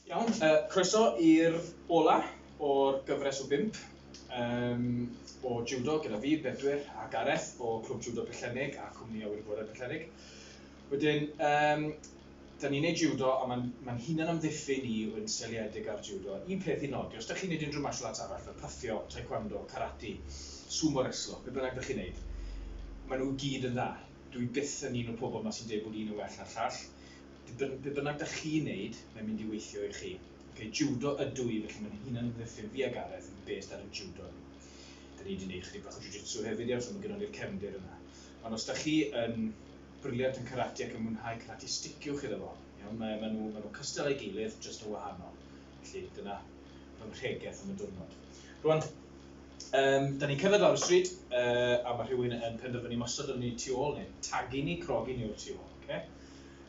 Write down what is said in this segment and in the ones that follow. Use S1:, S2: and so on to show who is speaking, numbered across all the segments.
S1: Iawn, yy croeso i'r ola o'r gyfres o bump yym o jiwdo gyda fi, Bedwyr a Gareth o Clwb Jiwdo Pwllheli a Cwmni Awyr Agored Pwllheli. Wedyn yym 'da ni'n neud jiwdo a ma'n ma'n hunan amddiffyn i fod yn seiliedig ar jiwdo. Un peth i nodi, os 'da chi'n neud unrhyw martial arts arall fel pythio, taekwando, karate, sumo reslo, be' bynnag 'da chi'n neud, ma' nhw i gyd yn dda. Dw i byth yn un o'r pobl 'ma sy'n deud bod un yn well na'r llall. Dibyn- be' bynnag 'da chi'n neud, mae'n mynd i weithio i chi. Ocê, jiwdo ydw i, felly ma'n hunan amddiffyn fi a Gareth yn based ar y jiwdo ni. 'Da ni 'di neud chydig bach o jiu-jitsu hefyd ia, so ma' gynnon ni'r cefndir yna. Ond os 'da chi yn briliant yn karate ac yn mwynhau karate sticiwch iddo fo iawn mae ma nhw ma nhw cystal ei gilydd jyst yn wahanol felly dyna fy mhregeth am y diwrnod rwan um, da ni'n cerdded lawr y stryd uh, a mae rhywun yn penderfynu mosod yn ni tu ôl ni tagu ni crogi ni o'r tu ôl okay?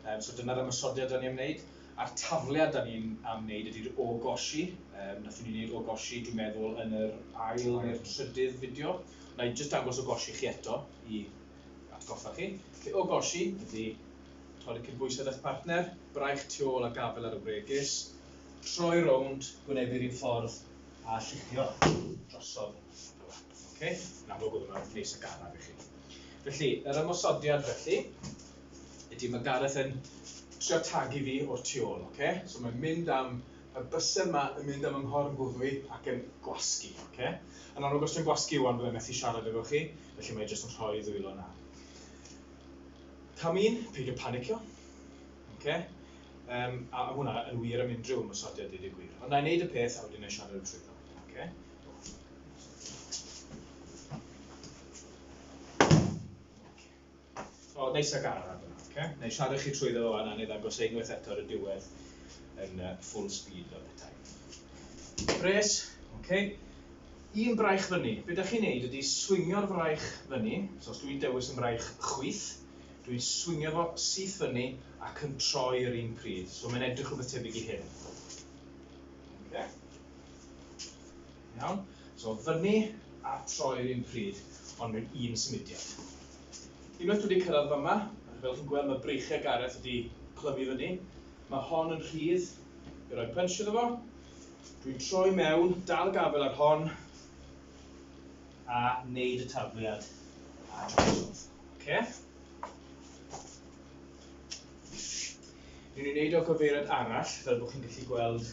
S1: um, so dyna'r ymosodiad da ni'n wneud a'r tafliad da ni'n am wneud ydy'r o gosi um, nathon ni'n wneud o gosi dwi'n meddwl yn yr ail neu'r trydydd fideo na i jyst dangos o gosi chi eto i atgoffa chi. Felly, o gosi, ydy torri cydbwysedd â'ch partner, braich tu ôl a gafel ar y bregys, troi rownd, gwneu'r un ffordd a lluchio drosodd. Ok, yn amlwg oedd yma nes y garaf i chi. Felly, yr ymosodiad felly, ydy mae Gareth yn trio tagu fi o'r tu ôl, ok? So mae'n mynd am y bysau yma yn mynd am ymhorn gwddwy ac yn gwasgu. Okay? Yn amlwg, os dwi'n gwasgu wan, byddai'n methu siarad efo chi. felly mae jyst yn rhoi ddwylo na. Cam un, peidio panicio. Okay? Um, a hwnna yn wir am unrhyw ymwysodiad i ddigwydd. Ond na i wneud y peth a wedyn ei siarad trwy ddo. Okay? O, neis ac araf yna, oce? Nai siarad chi trwyddo fo wan a nai ddangos e unwaith eto ar y diwedd yn yy full speed fel petai. Pres, oce? Un braich fyny. Be' 'dach chi'n neud ydi swingio'r fraich fyny, so os dwi'n dewis yn fraich chwith, dwi'n swingio fo syth fyny ac yn troi yr un pryd. So mae'n edrych rhywbeth tebyg i hyn. Oce? Iawn? So, fyny a troi yr un pryd, ond mewn un symudiad. Unwaith dwi wedi cyrraedd fyma, fel chi'n gweld mae breichiau Gareth wedi clymu fyny. Mae hon yn rhydd, i roi punch iddo fo. Dwi'n troi mewn, dal y gafel ar hon, a wneud y tafliad a drosodd. Okay? Ni'n ei wneud o gyfeiriad arall, fel bod chi'n gallu gweld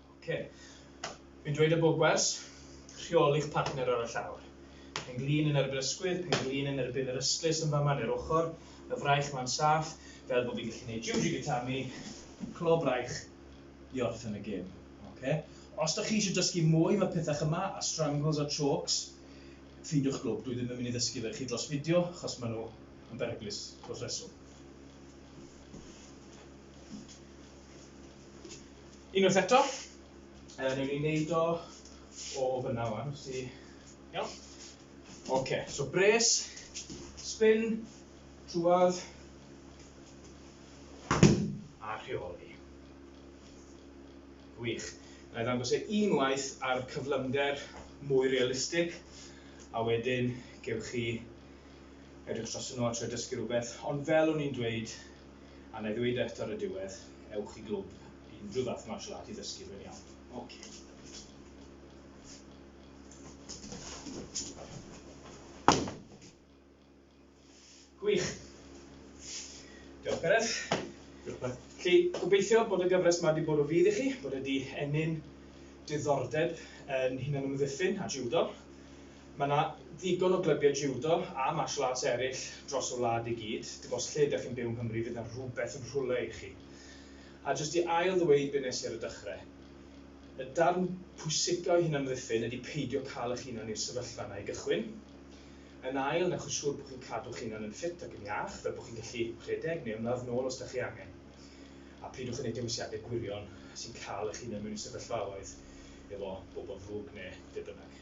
S1: Ok. Fi'n dweud y bogwers, rheoli'ch partner ar y llawr. Pen-glin yn erbyn ysgwydd, pen-glin yn erbyn yr ystlys yn fama neu'r ochr, y fraich ma'n saff, fel bod fi'n gallu neud Juji Gatami, clo braich, i orffen y gêm. Ok. Os dych chi eisiau dysgu mwy am y pethach yma, a strangles a chokes, ffeindiwch glwb, dwi ddim yn mynd i ddysgu fe i chi dros fideo, achos maen nhw yn beryglus dros reswm. Unwaith eto, uh, newn ni wneud o o fyna wan, os ti... Iawn. Oce, okay, so bres, spin, trwad, a rheoli. Wych. Na i ddangos e unwaith ar cyflymder mwy realistig, a wedyn gewch chi edrych dros yno a trio dysgu rhywbeth. Ond fel o'n i'n dweud, A wna i ddweud eto ar y diwedd, ewch i glwb, unrhyw fath martial art i ddysgu, mae'n iawn. Ocê. Gwych. Diolch, Gareth. Diolch, Pat. Felly, gobeithio bod y gyfres yma wedi bod o fudd i chi, bod e wedi ennyn diddordeb yn hunanymddiffyn a jiwdo. Mae 'na ddigon o glybiau jiwdo a martial arts eraill dros y wlad i gyd, dim ots lle ydych chi'n byw yng Nghymru fydd 'na rhywbeth yn rhywle i chi. A jyst i ail ddweud be nes i ar y dychre', y darn pwysica o hunanamddiffyn ydi peidio cael eich hunan i'r sefyllfa yna i gychwyn. Yn ail, wnewch yn siŵr bod chi'n cadw'ch hunan yn ffit ac yn iach, fel bod chi'n gallu rhedeg neu ymladd nôl os 'da chi angen. A peidiwch â neud dewisiade gwirion sy'n cael eich hunan mewn i sefyllfaoedd efo bobl ddrwg ne' be' bynnag.